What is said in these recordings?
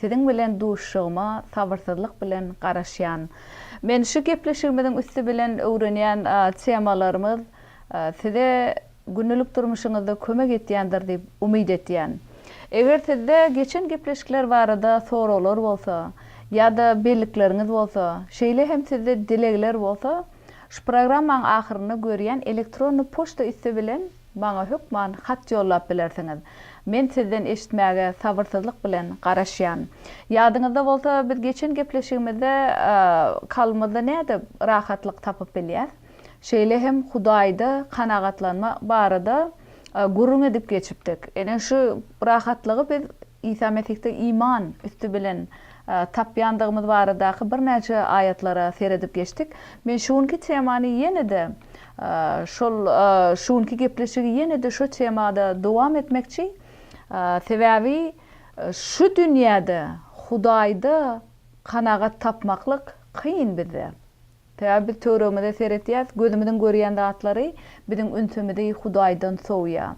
Siziň bilen duşuşygyma sabyrsyzlyk bilen garaşýan. Men şu gepleşigimiziň üsti bilen öwrenýän temalarymyz size gündelik durmuşyňyzda kömek etýändir diýip umyt etýän. Eger sizde geçen gepleşikler barada soraglar bolsa ýa-da bellikleriňiz bolsa, şeýle hem sizde dilegler bolsa şu programmaň ahyrynda görýän elektronny poçta üsti bilen Maňa hökman hat ýollap bilersiňiz. Men sizden eşitmäge sabyrsyzlyk bilen garaşýan. Ýadyňyzda bolsa, biz geçen gepleşigimizde kalbymyzda nädip rahatlyk tapyp bilýäs, şeýle hem Hudaýda kanagatlanma barada gürrüň edip geçipdik. Ine, şu rahatlygy biz Isa Mesihde iman üsti bilen tapýandygymyz baradaky birnäçe aýatlara seredip geçdik. Men şu günki temany ýene-de şol şu günki gepleşigi ýene-de şo temada dowam etmekçi. Sebäbi şu dünýäde Hudaýda kanagat tapmaklyk kyn bizde. Sebäbi biz töweregimize seretýäris, gözümiziň görýän zatlary biziň ünsümizi Hudaýdan sowýar.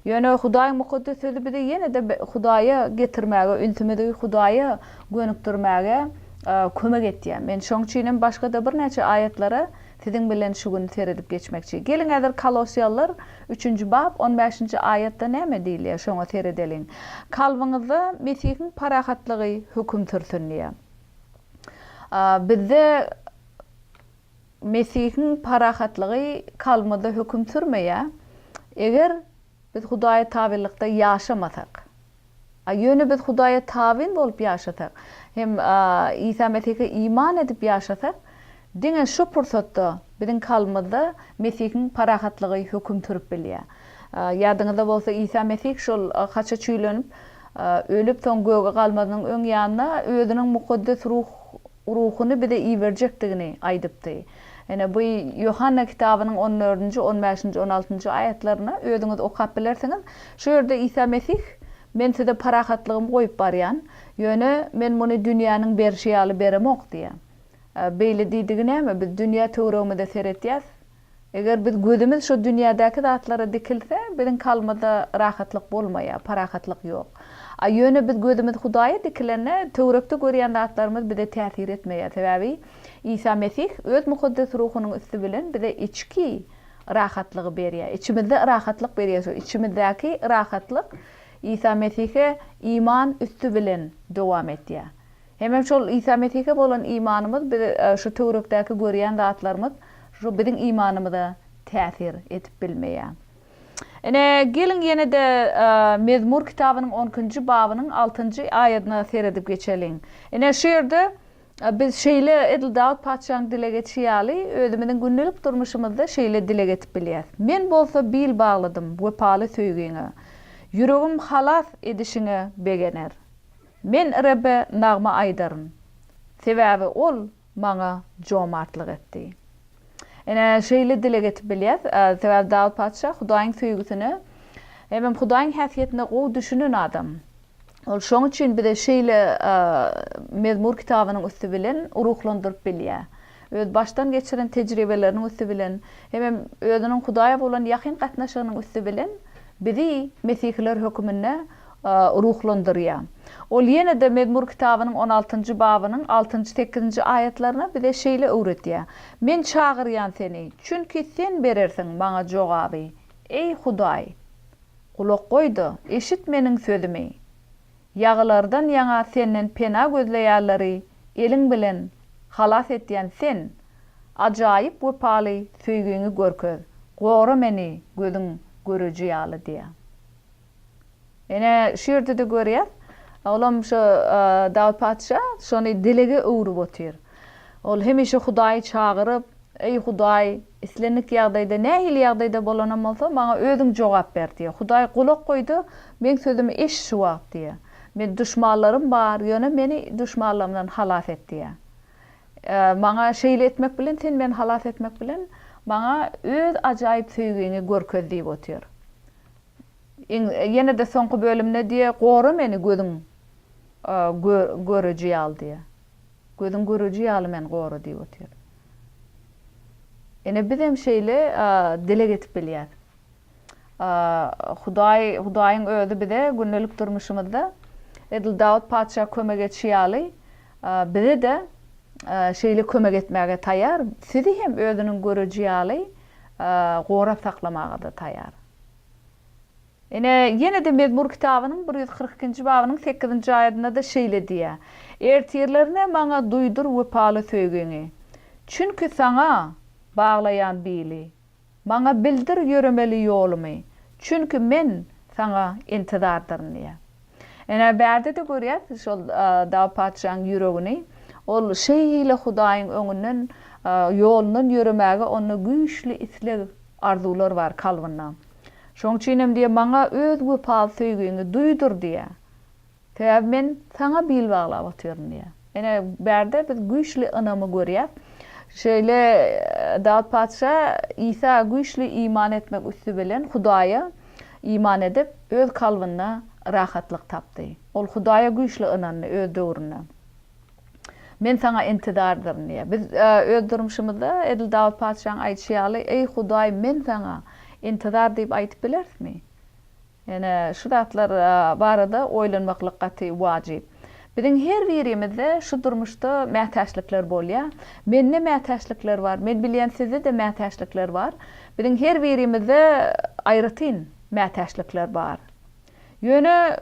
Ýöne Hudaýyň Mukaddes Sözi bizi ýene-de Hudaýa getirmäge, ünsümizi Hudaýa gönükdirmäge kömek etýär. Men şoň üçin hem başga-da birnäçe aýatlara siziň bilen şu gün seredip geçmekçi. Geliň häzir Kolossiýalylar üçünji bap on bäşinji aýatda näme diýilýär, şoňa seredeliň. Kalbyňyzda Mesihiň parahatlygy höküm sürsün diýýär. Bizde Mesihiň parahatlygy kalbymyzda höküm sürmeýär, eger biz Hudaýa tabynlykda ýaşamasak. Ýöne biz Hudaýa tabyn bolup ýaşasak hem Isa Mesihe iman edip ýaşasak, Diňe şu pursatda biziň kalbymyzda Mesihiň parahatlygy höküm sürüp bilýär. Ýadyňyzda bolsa, Isa Mesih şol haça çüýlenip, ölüp, soň göge galmazynyň öň ýanyna Özüniň mukaddes ruhuny bize iberjekdigini aýdypdy. Ine, bu Ýohanna kitabynyň on dördünji, on bäşinji, on altynjy aýatlaryny özüňiz okap bilersiňiz. Şu ýerde Isa Mesih, Men size parahatlygymy goýup barýan, ýöne Men muny dünýäniň berşi ýaly beremok diýýär. Beýle diýdigi näme? Biz dünýä töweregimize seretýäs. Eger biz gözümiz şu dünýädäki zatlara dikilse, biziň kalbymyzda rahatlyk bolmaýar, parahatlyk ýok. A ýöne biz gözümiz Hudaýa dikilende, töwerekde görýän zatlarymyz bize täsir etmeýär. Sebäbi Isa Mesih öz mukaddes ruhunyň üsti bilen bize içki rahatlygy berýär. Içimizde rahatlyk berýär. Şu içimizdäki rahatlyk Isa Mesihe iman üsti bilen dowam etýär. Hemem şol Isa Mesihe bolan imanymyz biz şu töwrekdäki görýän zatlarymyz şu biziň imanymyza täsir edip bilmeýär. Ine, geliň ýene-de Mezmur kitabynyň on ikinji babynyň altynjy aýadyna seredip geçeliň. Ine, şu ýerde biz şeýle edil Dawut patyşanyň dileg edişi ýaly özümiziň gündelik durmuşymyzda şeýle dileg edip bilýäs, Men bolsa bil bagladym wepaly söýgiňe, ýüregim halas edişiňe begener. Men Rebbe nagma aýdaryn, sebäbi Ol maňa jomartlyk etdi. Ine, şeýle dileg edip bilýäs, sebäbi Dawut patyşa Hudaýyň söýgüsine hemem Hudaýyň häsiýetine gowy düşünen adam. Ol şoň üçin bize şeýle Mezmur kitabynyň üsti bilen ruhlandyryp bilýär. Öz başdan geçiren tejribeleriniň üsti bilen hemem özüniň Hudaýa bolan ýakyn gatnaşygynyň üsti bilen bizi mesihiler höküminde ruhlandyrýar. Ol ýene-de Mezmur kitabynyň on altynjy babynyň altynjy, sekizinji aýatlaryna bize şeýle öwretýär, Men çagyrýan Seni, çünki Sen berersiň maňa jogaby. Eý, Hudaý! Gulak goý-da, eşit meniň sözümi. Ýagylardan ýaňa Senden pena gözleýärleri eliň bilen halas etýän Sen, ajaýyp wepaly söýgiňi görkez, gora meni gözüň göreji ýaly diýýär. Ine, şu ýerde-de görýäs, olam şu Dawut patyşa şony dilege öwrüp otyr. Ol hemişe Hudaýy çagyryp, Eý, Hudaý, islendik ýagdaýda, nähili ýagdaýda bolanam bolsa, maňa Özüň jogap ber diýýär. Hudaý gulak goý-da, meň sözümi eşit şu wagt diýýär. Meniň duşmanlarym bar, ýöne meni duşmanlarymdan halas et diýýär. Maňa şeýle etmek bilen, Sen meni halas etmek bilen, maňa Öz ajaýyp söýgiňi görkez diýip otyr. Iň ýene-de soňky bölümde diýýär, Gora meni gözüň göreji ýaly diýýär. Gözüň göreji ýaly meni gora diýip otyr. Ine biz hem şeýle dileg edip bilýäs. Hudaý, Hudaýyň özi bize gündelik durmuşymyzda edil Dawut patyşa kömek etişi ýaly bize-de şeýle kömek etmäge taýýar, sizi hem özüniň göreji ýaly gorap saklamaga-da taýýar. Ine, ýene-de Mezmur kitabynyň bir ýüz kyrk ikinji babynyň sekizinji aýadynda-da şeýle diýýär, Ertirlerine maňa duýdur wepaly söýgiňi, çünki Saňa baglaýan bili, maňa bildir ýöremeli ýolumy, çünki men Saňa intizardyryn diýýär. Ene, bärde-de görýäs şol dagy patyşaň ýüregini. Ol şeýle Hudaýyň öňünden, ýolundan ýöremäge onda güýçli isleg, arzuwlar bar kalbynda. Şoň üçinem diýýär, Maňa Öz wepaly söýgiňi duýdur diýýär. Sebäbi men Saňa bil baglap otyryn diýýär. Ine, bärde biz güýçli ynamy görýäs. Şeýle Dawut patyşa Isa güýçli iman etmek üsti bilen Hudaýa iman edip, öz kalbynda rahatlyk tapdy. Ol Hudaýa güýçli ynandy öz döwründe. Men Saňa intidardyryn diýýär. Biz öz durmuşymyzda edil Dawut patyşanyň aýdyşy ýaly, Eý, Hudaý, men Saňa intidar diýip aýdyp bilerismi? Ine, şu zatlar barada oýlanmaklyk gaty wajyp. Biziň her birimizde şu durmuşda mätäçlikler bolýar. Mende mätäçlikler bar. Men bilýän sizde-de mätäçlikler bar. Biziň her birimizde aýratyn mätäçlikler bar. Ýöne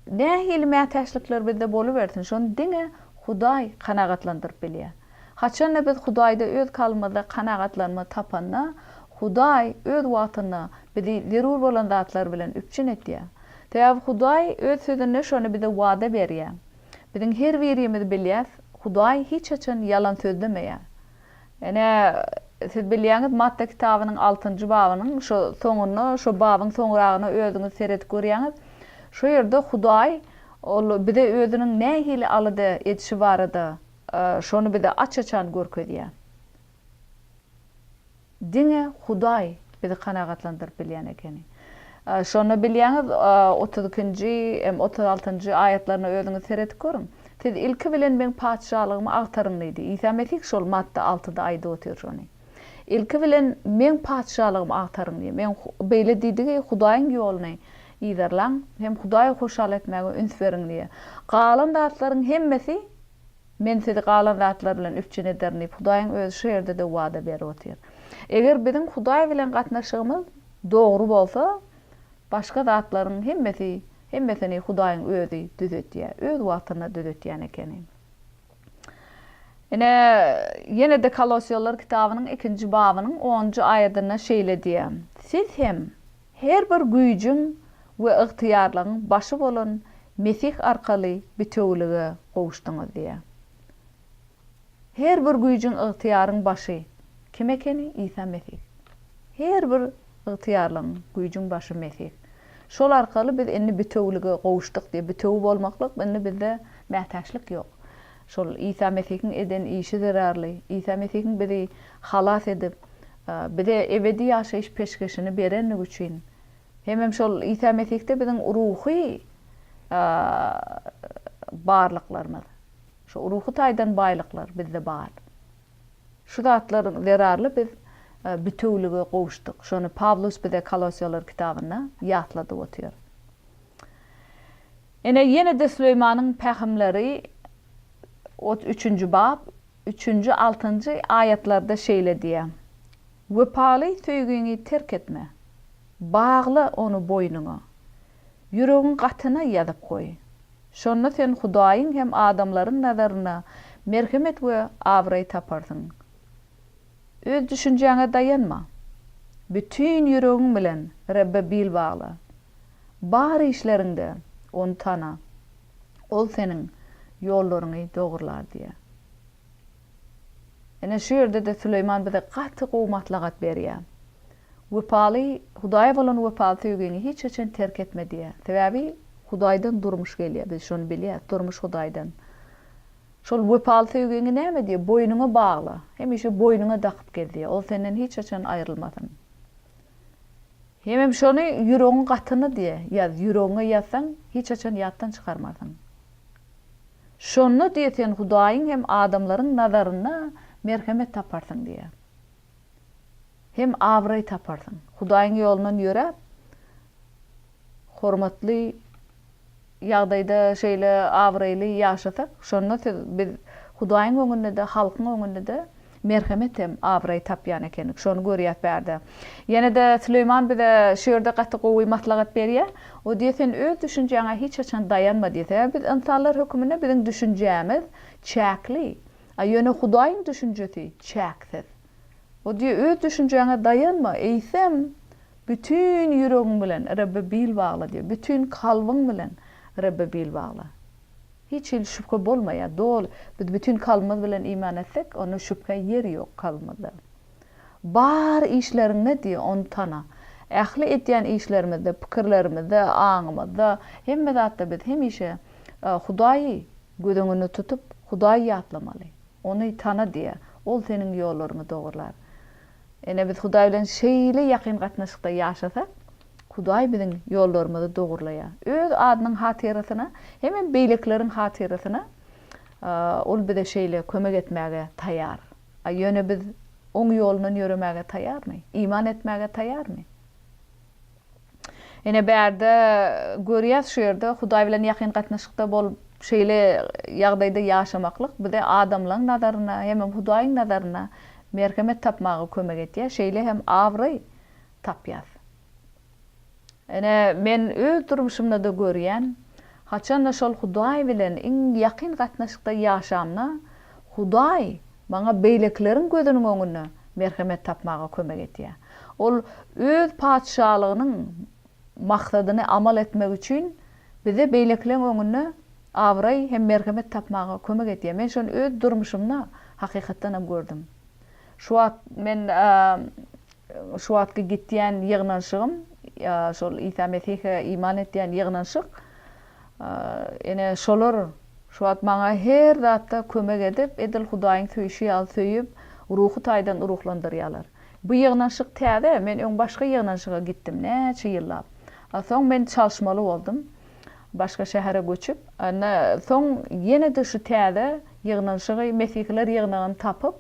nähili mätäçlikler bizde bolubersin, şony diňe Hudaý kanagatlandyryp bilýär. Haçanda biz Hudaýda öz kalbymyzda kanagatlanma tapanda, Hudaý öz wagtynda bizi zerur bolan zatlar bilen üpjün edýär. Sebäbi Hudaý öz Sözünde şony bize wada berýär. Biziň her birimiz bilýäs, Hudaý hiç haçan ýalan sözlemeýär. Ine, siz bilýäňiz, Matta kitabynyň altynjy babynyň şo soňunda, şo babyň soňragyna özüňiz seredip görýäňiz. Şo ýerde Hudaý ol bize özüniň nähili alada edişi barada Şony bize aç-açan görkezýär. Diňe Hudaý bizi kanagatlandyryp bilýän ekeni. Şonda bilýäňiz, otuz ikinji hem otuz altynjy aýatlaryna özüňiz seredip görüň. Siz ilki bilen meň Patyşalygymy agtaryň diýdi. Isa Mesih şol Matta altyda aýdyp otyr şony. Ilki bilen Meň Patyşalygymy agtaryň diýdi. Meň beýle diýdigi, Hudaýyň ýoluny yzarlaň hem Hudaýy hoşal etmäge üns beriň diýdi. Galan zatlaryň hemmesi Men sizi galan zatlar bilen üpjün ederin diýip, Hudaýyň Özi şu ýerde-de wada berip otyr. Eger biziň Hudaý bilen gatnaşygymyz dogry bolsa, başga zatlaryň hemmesi, hemmesini Hudaýyň Özi düzetýär. Öz wagtynda düzetýän ekeni. Ine, ýene-de Kolosýalylar kitabynyň ikinji babynyň onunjy aýadynda şeýle diýýär, Siz hem her bir güýjüň we ygtyýarlygyň başy bolan Mesih arkaly bitewülige gowuşdyňyz diýýär. Her bir güýjüň, ygtyýaryň başy kim ekeni? Isa Mesih. Her bir Ygtyýarlygyň, güýjüň başy Mesih. Şol arkaly biz indi bitewülige gowuşdyk diýip, bitewi bolmaklyk indi bizde mätäçlik ýok. Şol Isa Mesihiň eden işi zerarly, Isa Mesihiň bizi halas edip, bize ebedi ýaşaýyş peşgeşini berendigi üçin, hemem şol Isa Mesihde biziň ruhy barlyklarymyz, şu ruhy taýdan baýlyklar bizde bar. Şu zatlar zerarly biz bitewülige gowuşdyk. Şony Pawlus bize Kolosiýalar kitabynda ýatladyp otyr. Ine, ýene-de Süleýmanyň pähimleri otuz üçünji bap, üçünji, altynjy aýatlarda şeýle diýýär, Wepaly söýgiňi terk etme. Bagla ony boýnuňa. Ýüregiň gatyna ýazyp goý. Şonda sen Hudaýyň hem adamlaryň nazarynda merhemet we abraý taparsyň. Öz düşünjäňe daýanma. Bütin ýüregiň bilen Rebbe bil bagla. Bar işleriňde Ony tana. Ol seniň ýollaryňy dogrular diýýär. Ine, şu ýerde-de Süleýman bize gaty gowy maslahat berýär. Wepaly, Hudaýa bolan wepaly söýgiňi hiç haçan terk etme diýýär. Sebäbi Hudaýdan durmuş gelýär, biz şony bilýäris, durmuş Hudaýdan. Şol wepaly söýgiňi näme diýýär, boýnuňa bagla, hemişe boýnuňa dakyp gez diýýär, ol senden hiç haçan aýrylmasyn. Hemem şony ýüregiň gatyna diýýär, ýaz, ýüregiňe ýazsaň, hiç haçan ýatdan çykarmarsyň. Şonda diýe sen Hudaýyň hem adamlaryň nazarynda merhemet taparsyň diýe. Hem abraý taparsyň. Hudaýyň ýolundan ýöräp, hormatly ýagdaýda şeýle abraýly ýaşasak, şonda siz biz Hudaýyň öňünde-de, halkyň öňünde-de Merhemet hem abraý tapýan ekenik. Şony görýäs bärde. Ýene-de Süleýman bize şu ýerde gaty gowy maslahat berýä. O diýýä, sen öz düşünjäňe hiç haçan daýanma diýýä. Sebäbi biz ynsanlar höküminde biziň düşünjämiz çäkli. A ýöne Hudaýyň düşünjesi çäksiz. O diýýä, öz düşünjäňe daýanma, eýsem, bütin ýüregiň bilen Rebbe bil bagla diýýä. Bütin kalbyň bilen Rebbe bil bagla. Hiç hili şübhe bolmaýar, doly. Biz bütin kalbymyz bilen iman etsek, onda şübhä ýer ýok kalbymyzda. Bar işleriňde diýýär, Ony tana. Ähli edýän işlerimizde, pikirlerimizde, aňymyzda, hemme zatda biz hemişe Hudaýy göz öňünde tutup, Hudaýy ýatlamaly. Ony tana diýýär. Ol seniň ýollaryňy dogrular. Ine, biz Hudaý bilen şeýle ýakyn gatnaşykda ýaşasak, Hudaý biziň ýollarymyzy dogurlaýar. Öz adynyň hatyrasyna hemem beýlekileriň hatyrasyna Ol bize şeýle kömek etmäge taýýar. A ýöne biz Oň ýolundan ýöremäge taýýarmy? Iman etmäge taýýarmy? Ine, bärde görýäs, şu ýerde Hudaý bilen ýakyn gatnaşykda bolup, şeýle ýagdaýda ýaşamaklyk bize adamlaň nazarynda hemem Hudaýyň nazarynda merhemet tapmaga kömek edýär, şeýle hem abraý tapýas. Ine, men öz durmuşymda-da görýän, haçan-da şol Hudaý bilen iň ýakyn gatnaşykda ýaşamda, Hudaý maňa beýlekileriň gözüniň öňünde merhemet tapmaga kömek etýär. Ol Öz Patyşalygynyň maksadyny amal etmek üçin bize beýlekileň öňünde abraý hem merhemet tapmaga kömek etýär. Men şony öz durmuşymda hakykatdanam gördüm. Şu wagt men Şu wagtky gitýän ýygnanşygym, ýa şol Isa Mesihe iman etýän ýygnanşyk, ene, şolar şu wagt maňa her zatda kömek edip, edil Hudaýyň söýşi ýaly söýüp, ruhy taýdan ruhlandyrýarlar. Bu ýygnanşyk täze, men öň başga ýygnanşyga gitdim, näçe ýyllap. A soň men çalyşmaly boldum, başga şähere göçüp. Ine, soň ýene-de şu täze ýygnanşygy, Mesihiler ýygnagyny tapyp,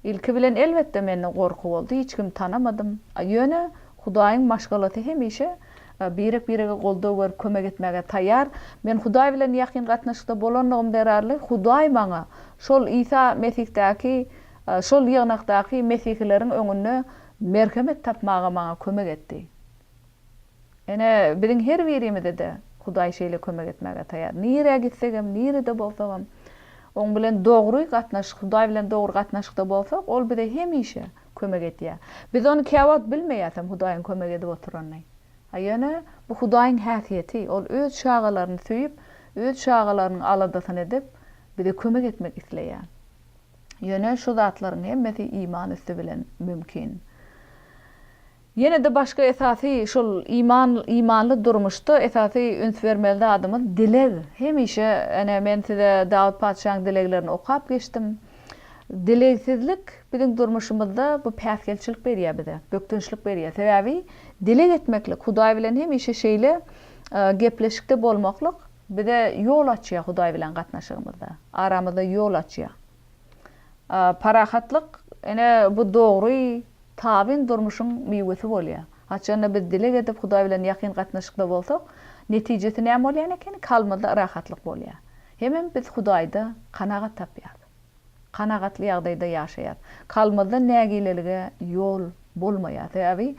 Ilki bilen elbetde mende gorky boldy, hiç kimi tanamadym. Ýöne Hudaýyň maşgalasy hemişe birek-birege goldaw berip kömek etmäge taýýar. Men Hudaý bilen ýakyn gatnaşykda bolanlygym zerarly Hudaý maňa şol Isa Mesihdaky şol ýygnakdaky mesihileriň öňünde merhemet tapmaga maňa kömek etdi. Ine, biziň her birimize-de Hudaý şeýle kömek etmäge taýýar. Nirä gitsegem, nirede bolsagam, Oň bilen dogry gatnaşyk, Hudaý bilen dogry gatnaşykda bolsak, Ol bize hemişe kömek edýär. Biz ony käwagt bilmeýäsem, Hudaýyň kömek edip oturanyny. A ýöne, bu Hudaýyň häsiýeti, Ol Öz çagalaryny söýüp, Öz çagalarynyň aladasyny edip, bize kömek etmek isleýär. Ýöne, şu zatlaryň hemmesi iman üsti bilen mümkin. Ýene-de başga esasy şol iman, imanly durmuşda esasy üns bermeli zadymyz dileg. Hemişe ene men size Dawut patyşaň dileglerini okap geçdim. Dilegsizlik biziň durmuşymyzda bu päsgelçilik berýär bize, bökdençlik berýär. Sebäbi dileg etmeklik, Hudaý bilen hemişe şeýle gepleşikde bolmaklyk bize ýol açýar Hudaý bilen gatnaşygymyzda, aramyzda ýol açýar. Parahatlyk ene bu dogry Tabyn durmuşyň miwesi bolýar. Haçanda biz dileg edip Hudaý bilen ýakyn gatnaşykda bolsak, netijesi näme bolýan ekeni? Kalbymyzda rahatlyk bolýar. Hemem biz Hudaýda kanagat tapýarys. Kanagatly ýagdaýda ýaşaýarys. Kalbymyzda nägilelige ýol bolmaýar. Sebäbi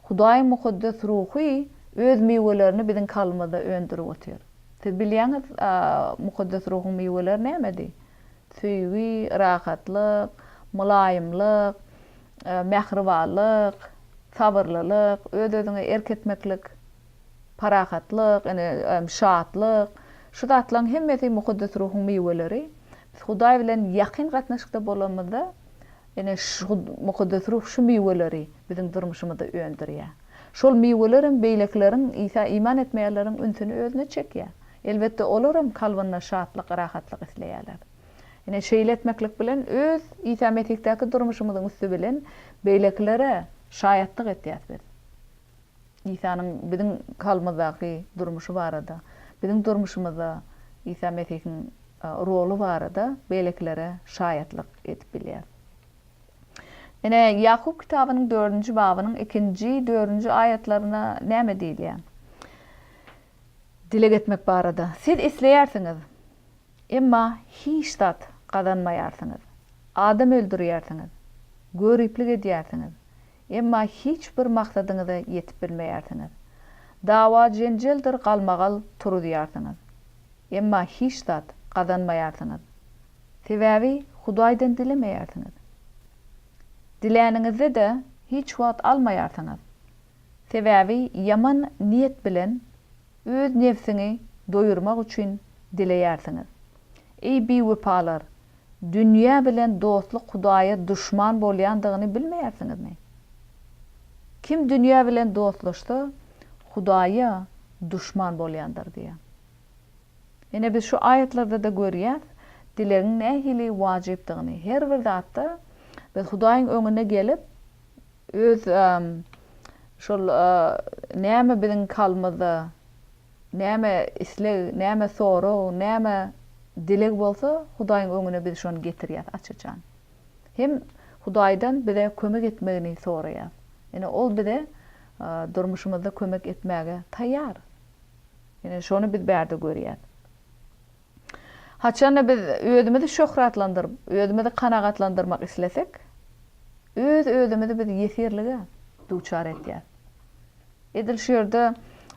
Hudaýyň mukaddes ruhy öz miwelerini biziň kalbymyzda öndürip otyr. Siz bilýäňiz, mukaddes ruhuň miweleri nämedi? Söýgi, rahatlyk, mylaýymlyk, mähribanlyk, sabyrlylyk, öz-özüňe erk etmeklik, parahatlyk, ine, şatlyk, şu zatlaryň hemmesi Mukaddes Ruhuň miweleri. Biz Hudaý bilen ýakyn gatnaşykda bolanymyzda, Ine, şu Mukaddes Ruh şu miweleri biziň durmuşymyzda öndürýär. Şol miweler hem beýlekileriň, Isa iman etmeýänleriň ünsüni özüne çekýär. Elbetde, olar hem kalbynda şatlyk, rahatlyk isleýärler. Ine, şeýle etmeklik bilen öz Isa Mesihdaky durmuşymyzyň üsti bilen beýlekilere şaýatlyk etýäs biz. Isanyň biziň kalbymyzdaky durmuşy barada, biziň durmuşymyzda Isa Mesihiň roly barada beýlekilere şaýatlyk edip bilýäris. Ine, Ýakup kitabynyň dördünji babynyň ikinji, dördünji aýatlarynda näme diýilýär? Dileg etmek barada, Siz isleýärsiňiz, emma hiç zat gazanmaýarsyňyz. Adam öldürýärsiňiz, göriplik edýärsiňiz, Emma hiç bir maksadyňyza ýetip bilmeýärsiňiz. Dawa-jenjeldir galmagal turuzýarsyňyz. Emma hiç zat gazanmaýarsyňyz. Sebäbi Hudaýdan dilemeýärsiňiz. Diläniňizde-de hiç wagt almaýarsyňyz. Sebäbi ýaman niýet bilen öz nebsiňi doýurmak üçin dileýärsiňiz. Eý biwepalar, Dünýä bilen dostluk Hudaýa duşman bolýandygyny bilmeýärsiňizmi? Kim dünýä bilen dostlaşsa, Hudaýa duşman bolýandyr diýýär. Ine, biz şu aýatlarda-da görýäs, dilegiň nähili wajypdygyny. Her bir zatda biz Hudaýyň öňüne gelip, öz şol näme biziň kalbymyzda Näme isleg, näme sorag, näme dileg bolsa, Hudaýyň öňüne biz şony getirýäs açyjan. Hem Hudaýdan bize kömek etmegini soraýas. Ine, ol bize durmuşymyzda kömek etmäge taýýar. Ine, şony biz bärde görýäs. Haçan-da biz özümizi şöhratlandyryp, özümizi kanagatlandyrmak islesek, öz-özümizi biz ýesirlige duçar etýäris. Edil şu ýerde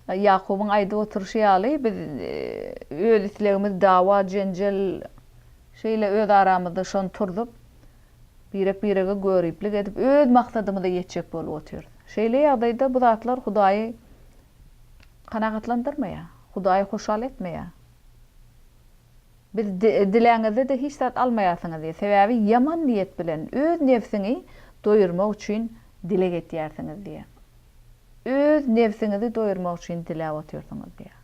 Ýakubyň aýdyp oturyşy ýaly, biz öz islegimiz, dawa, jenjel, şeýle öz aramyzda şony turzup, birek-birege göriplik edip, öz maksadymyza ýetjek bolup otyrys. Şeýle ýagdaýda bu zatlar Hudaýy kanagatlandyrmaýar, Hudaýy hoşal etmeýär. Biz diläňizde-de hiç zat almaýarsyňyz diýýär. Sebäbi ýaman niýet bilen öz nebsiňi doýurmak üçin dileg etýärsiňiz diýýär. Öz nebsiňizi doýurmak üçin diläp otyrsyňyz diýýär.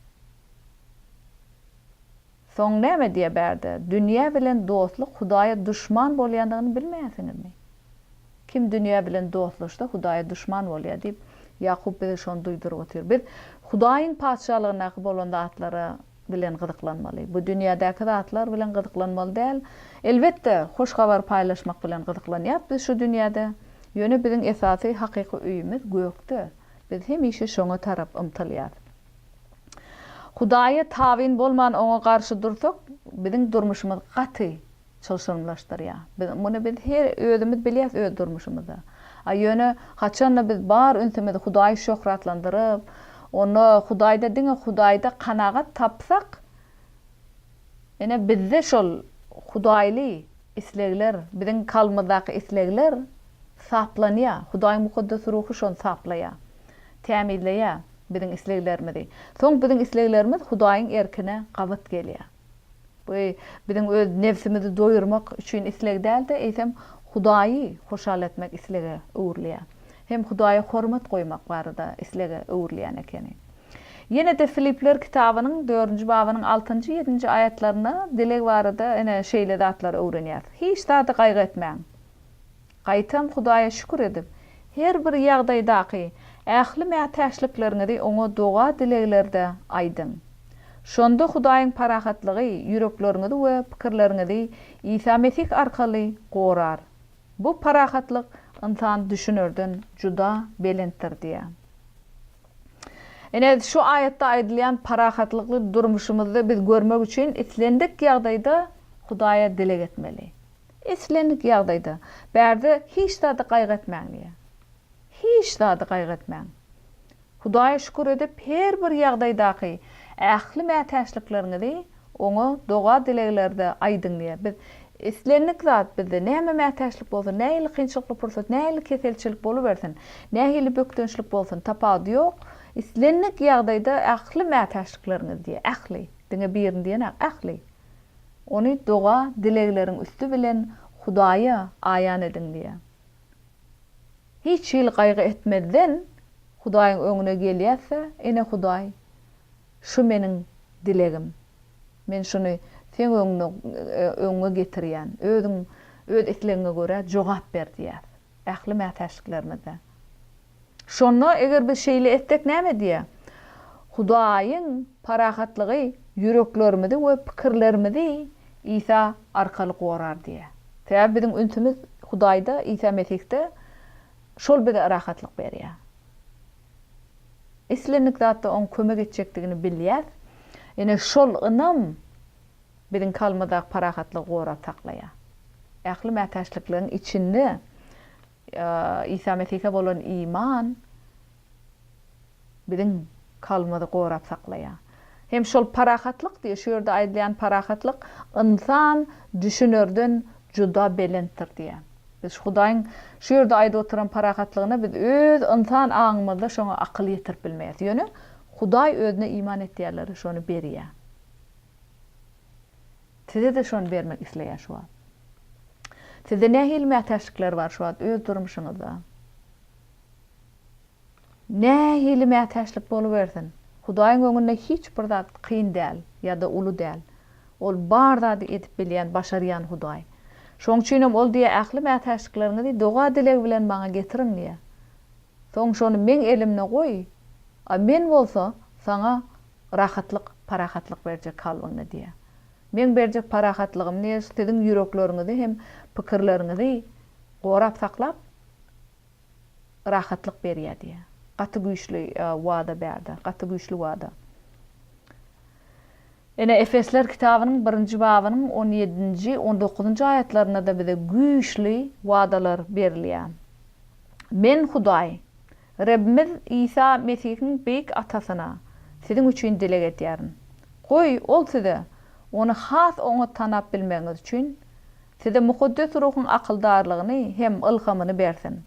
Soň näme diýýär bärde? Dünýä bilen dostluk Hudaýa duşman bolýandygyny bilmeýärsiňizmi? Kim dünýä bilen dostlaşsa, Hudaýa duşman bolýar diýip, Ýakup bize şony duýduryp otyr. Biz Hudaýyň Patyşalygyndaky bolan zatlara bilen gyzyklanmaly. Bu dünýädäki zatlar bilen gyzyklanmaly däl. Elbetde, hoş habary paýlaşmak bilen gyzyklanýarys biz şu dünýäde. Ýöne biziň esasy hakyky öýümiz gökde. Biz hemişe şoňa tarap ymtylýarys. Hudaýa tabyn bolman oňa garşy dursak, biziň durmuşymyz gaty çylşyrymlaşdyrýar. Biz muny biz her özümiz bilýäs öz durmuşymyzda. A ýöne haçanda biz bar ünsümizi Hudaýy şöhratlandyryp, onda Hudaýda diňe Hudaýda kanagat tapsak, ine bizde şol Hudaýly islegler, biziň kalbymyzdaky islegler saplanýar. Hudaýyň Mukaddes Ruhy şony saplaýar. Tämizleýär biziň isleglerimizi. Soň biziň isleglerimiz Hudaýyň erkine gabat gelýär. Bu biziň öz nebsimizi doýurmak üçin isleg däl-de, eýsem, Hudaýy hoşal etmek islege öwrülýär. Hem Hudaýa hormat goýmak barada islege öwrülýän ekeni. Ýene-de Filipler kitabynyň dördünji babynyň altynjy, ýedinji aýatlarynda dileg barada ene şeýle zatlary öwrenýäris, Hiç zada gaýgy etmäň. Gaýtam Hudaýa şükür edip, her bir ýagdaýdaky ähli mätäçlikleriňizi Oňa doga-dileglerde aýdyň. Şonda Hudaýyň parahatlygy ýürekleriňizi we pikirleriňizi Isa Mesih arkaly gorar. Bu parahatlyk ynsan düşünerden juda belentdir diýýär. Ine, şu aýatda aýdylýan parahatlykly durmuşymyzda biz görmek üçin islendik ýagdaýda Hudaýa dileg etmeli. Islendik ýagdaýda, bärde hiç zady gaýgy etmäň diýýär. Hiç zady gaýgy etmäň. Hudaýa şükür edip, her bir ýagdaýdaky ähli mätäçlikleriňizi Oňa doga-dileglerde aýdyň diýýär. Biz islendik zat, bizde näme mätäçlik bolsa, nähili kynçylykly pursat, nähili keselçilik bolubersin, nähili bökdençlik bolsun, tapawudy ýok, islendik ýagdaýda ähli mätäçlikleriňizi diýýär. Ähli. Diňe birini diýenok, ähli. Ony doga, dilegleriň üsti bilen Hudaýa aýan ediň diýýär. Hiç hili gaýgy etmezden Hudaýyň öňüne gelýäs-de, Ene Hudaý, şu meniň dilegim. Men şuny Seň öňüňe getirýän. Özüň Öz islegiňe görä jogap ber diýýäs. Ähli mätäçliklerimizde. Şonda eger biz şeýle etsek näme diýýär? Hudaýyň parahatlygy ýüreklerimizi we pikirlerimizi Isa arkaly gorar diýýär. Sebäbi biziň ünsümiz Hudaýda, Isa Mesihde, şol bize rahatlyk berýär. Islendik zatda oň kömek etjekdigini bilýäs. Ine şol ynam Biziň kalmadak parahatlygy gorap saklaýar. Ähli mätäçlikligiň içinde Isa Mesihe bolan iman biziň kalmady gorap saklaýar. Hem şol parahatlyk diýýär. Şu ýerde aýdylýan parahatlyk ynsan düşünerden juda belentdir diýýär. Biz şu Hudaýyň şu ýerde aýdyp oturan parahatlygyna biz öz ynsan aňymyzda şoňa akyl ýetirip bilmeýäs. Ýöne Hudaý özüne iman etýänlere şony berýär. Size-de şony bermek isleýär şu wagt. Sizde nähili mätäçlikler bar şu wagt öz durmuşyňyzda? Nähili mätäçlik bolubersin, Hudaýyň öňünde hiç bir zat kyn däl ýa-da uly däl. Ol bar zady edip bilýän, başarýan Hudaý. Şoň üçin hem Ol diýýär, Ähli mätäçlikleriňizi doga-dileg bilen Maňa getiriň diýýär. Soň şony Meň elimde goý, a Men bolsa saňa Rahatlyk, parahatlyk berjek kalbyňda diýýär. Meň berjek parahatlygym diýýär, siziň ýürekleriňizi hem pikirleriňizi gorap saklap, rahatlyk berýär diýýär. Gaty güýçli wada bärde, gaty güýçli wada. Ene, Efesler kitabynyň birinji babynyň on ýedinji, on dokuzynjy aýatlarynda-da bize güýçli wadalar berilýär. Men Hudaý, Rebbimiz Isa Mesihiň beýik Atasyna siziň üçin dileg edýärin. Goý, Ol size, Ony has oňat tanap bilmegiňiz üçin, size Mukaddes Ruhuň akyldarlygyny hem ylhamyny bersin.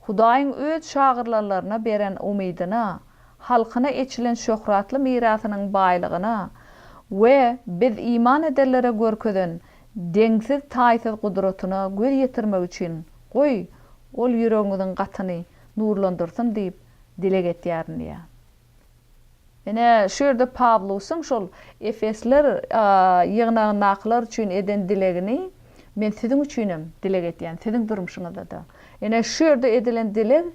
Hudaýyň Öz şagyrlanlaryna beren umydyna, halkyna eçilen şöhratly mirasynyň baýlygyna we biz iman edenlere görkezen deňsiz-taýsyz gudratyna göz ýetirmek üçin Goý, Ol ýüregiňiziň gatyny nurlandyrsyn diýip dileg etýärin diýýär. Ine, şu ýerde Pawlusyň şol efesler ýygnagyndakylar üçin eden dilegini men siziň üçinem dileg edýän, siziň durmuşyňyzda-da. Ine, şu ýerde edilen dileg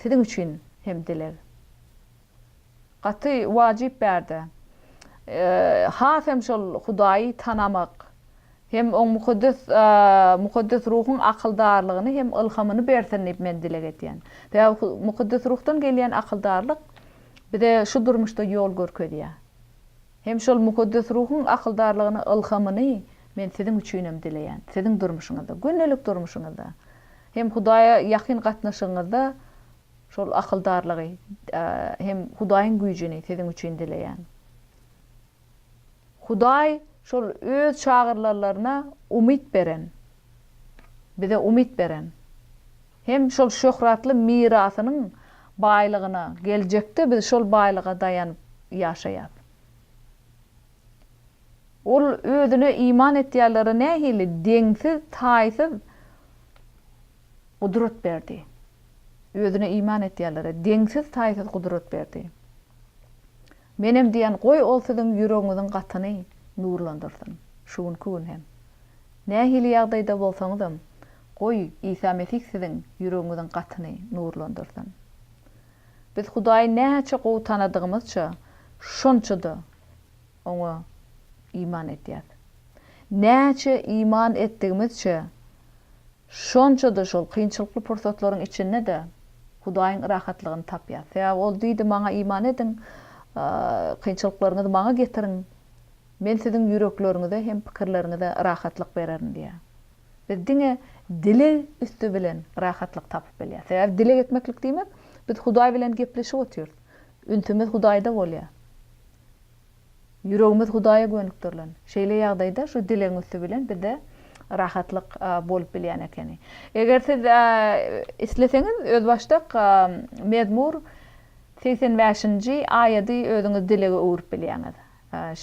siziň üçin hem dileg. Gaty wajyp bärde. Has hem şol Hudaýy tanamak hem oň mukaddes mukaddes ruhuň akyldarlygyny hem ylhamyny bersin diýip men dileg edýän. Sebäbi mukaddes ruhdan gelýän akyldarlyk bize şu durmuşda ýol görkezýär. Hem şol mukaddes ruhuň akyldarlygyny ylhamyny men siziň üçin hem dileýän. Siziň durmuşyňyzda, gündelik durmuşyňyzda hem Hudaýa ýakyn gatnaşygyňyzda Şol akyldarlygy hem Hudaýyň güýjüni siziň üçin dileýän. Hudaý şol Öz çagyrylanlaryna umyt beren, bize umyt beren hem şol şöhratly mirasynyň baýlygyna geljekde biz şol baýlyga daýanyp ýaşaýas. Ol Özüne iman etýänlere nähili deňsiz, taýsyz, gudrat berdi. Özüne iman etýänlere deňsiz-taýsyz gudrat berdi. Menem diýýän, goý, ol siziň ýüregiňiziň gatyny nurlandyrsyn. Şu günki gün hem. Nähili ýagdaýda bolsaňyzam, goý, Isa Mesih siziň ýüregiňiziň gatyny nurlandyrsyn. Biz Hudaýy näçe gowy tanadygymyzça, şonça-da Oňa iman etýäs. Näçe iman etdigimizçe, Şonça-da şol kynçylykly pursatlaryň içinde-de Hudaýyň rahatlygyny tapýas. Sebäbi Ol diýdi, Maňa iman ediň, kynçylyklaryňyzy Maňa getiriň, Men siziň ýürekleriňize hem pikirleriňize rahatlyk bererin diýýär. Biz diňe dileg üsti bilen rahatlyk tapyp bilýäs. Sebäbi dileg etmeklik diýmek, biz Hudaý bilen gepleşip otyrys. Ünsümiz Hudaýda bolýar. Ýüregimiz Hudaýa gönükdirilen. Şeýle ýagdaýda şu dilegiň üsti bilen bizde rahatlyk bolup bilýän ekeni. Eger siz isleseňiz, özbaşdak Mezmur segsen bäşinji aýady özüňiz dilege öwrüp bilýäňiz.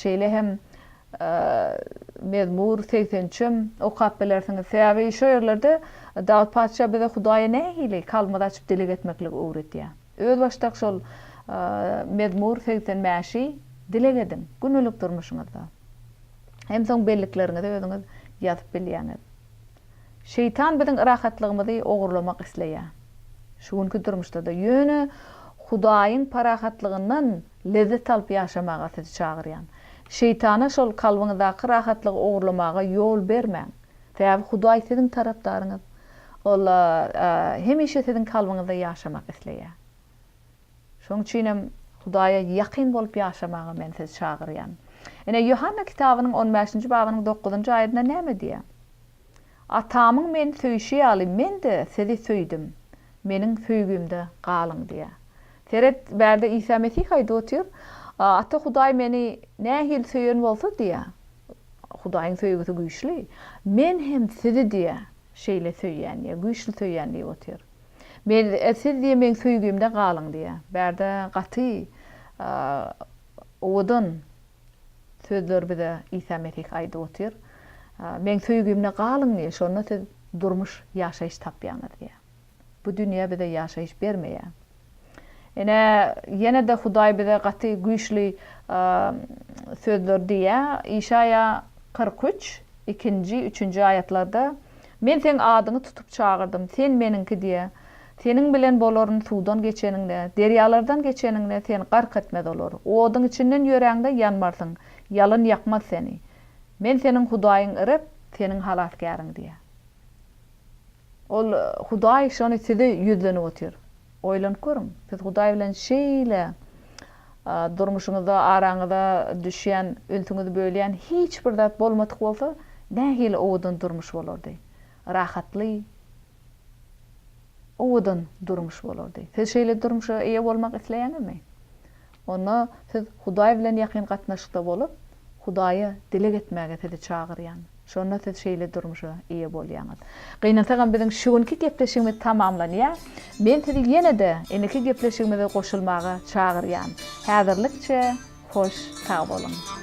Şeýle hem Mezmur segsen üçem okap bilersiňiz. Sebäbi şu ýerlerde Dawut patyşa bize Hudaýa nähili kalbymyzy açyp dileg etmekligi öwredýär. Özbaşdak şol Mezmur segsen bäşi dileg ediň, gündelik durmuşyňyzda. Hem soň bellikleriňizi özüňiz ýazyp bilýäňiz. Şeýtan biziň rahatlygymyzy ogurlamak isleýär. Şu günki durmuşda-da. Ýöne Hudaýyň parahatlygyndan lezzet alyp ýaşamaga sizi çagyrýan. Şeýtana şol kalbyňyzdaky rahatlygy ogurlamaga ýol bermäň. Sebäbi Hudaý siziň tarapdaryňyz. Ol hemişe siziň kalbyňyzda ýaşamak isleýär. Şonuň üçin hem Hudaýa ýakyn bolup ýaşamaga men sizi çagyrýan. Ine, Ýohanna kitabynyň on bäşinji babynyň dokuzynjy aýadynda näme diýýär? Atamyň meni söýşi ýaly, men-de sizi söýdüm, meniň söýgimde galyň diýýär. Seret, bärde Isa Mesih aýdyp otyr, Ata Hudaý meni nähili söýen bolsa diýýär, Hudaýyň söýgüsi güýçli. Men hem sizi diýe, şeýle söýýän diýe, güýçli söýýän diýip otyr. Men, siz diýe meň söýgimde galyň diýe. Bärde gaty owadan sözler bize Isa Mesih aýdyp otyr. Meň söýgimde galyň diýe, şonda siz durmuş, ýaşaýyş tapýaňyz diýe. Bu dünýe bize ýaşaýyş bermeýär. Ine, ýene-de Hudaý bize gaty güýçli sözleri diýýär. Işaýa kyrk üç, ikinji, üçünji aýatlarda, Men seň adyňy tutup çagyrdym, sen Meniňki diýe. Seniň bilen bolaryn suwdan geçeniňde, derýalardan geçeniňde, seni gark etmez olar. Oduň içinden ýöräňde, ýanmarsyň, ýalyn ýakmaz seni. Men seniň Hudaýyň Reb, seniň halasgäriň diýýär. Ol, Hudaý şony size ýüzlenip otyr. Oýlanyp görüň, siz Hudaý bilen şeýle durmuşyňyzda araňyza düşýän, ünsüňizi bölýän hiç bir zat bolmadyk bolsa, nähili owadan durmuş bolardy? Rahatly, owadan durmuş bolardy. Siz şeýle durmuşa eýe bolmak isleýäňizmi? Onda siz Hudaý bilen ýakyn gatnaşykda bolup, Hudaýa dileg etmäge sizi çagyrýan. Şonda siz şeýle durmuşa eýe bolýaňyz. Gynansagam biziň şu günki gepleşigimiz tamamlanýar. Men sizi ýene-de indiki gepleşigimize goşulmaga çagyrýan. Häzirlikçe hoş sag boluň.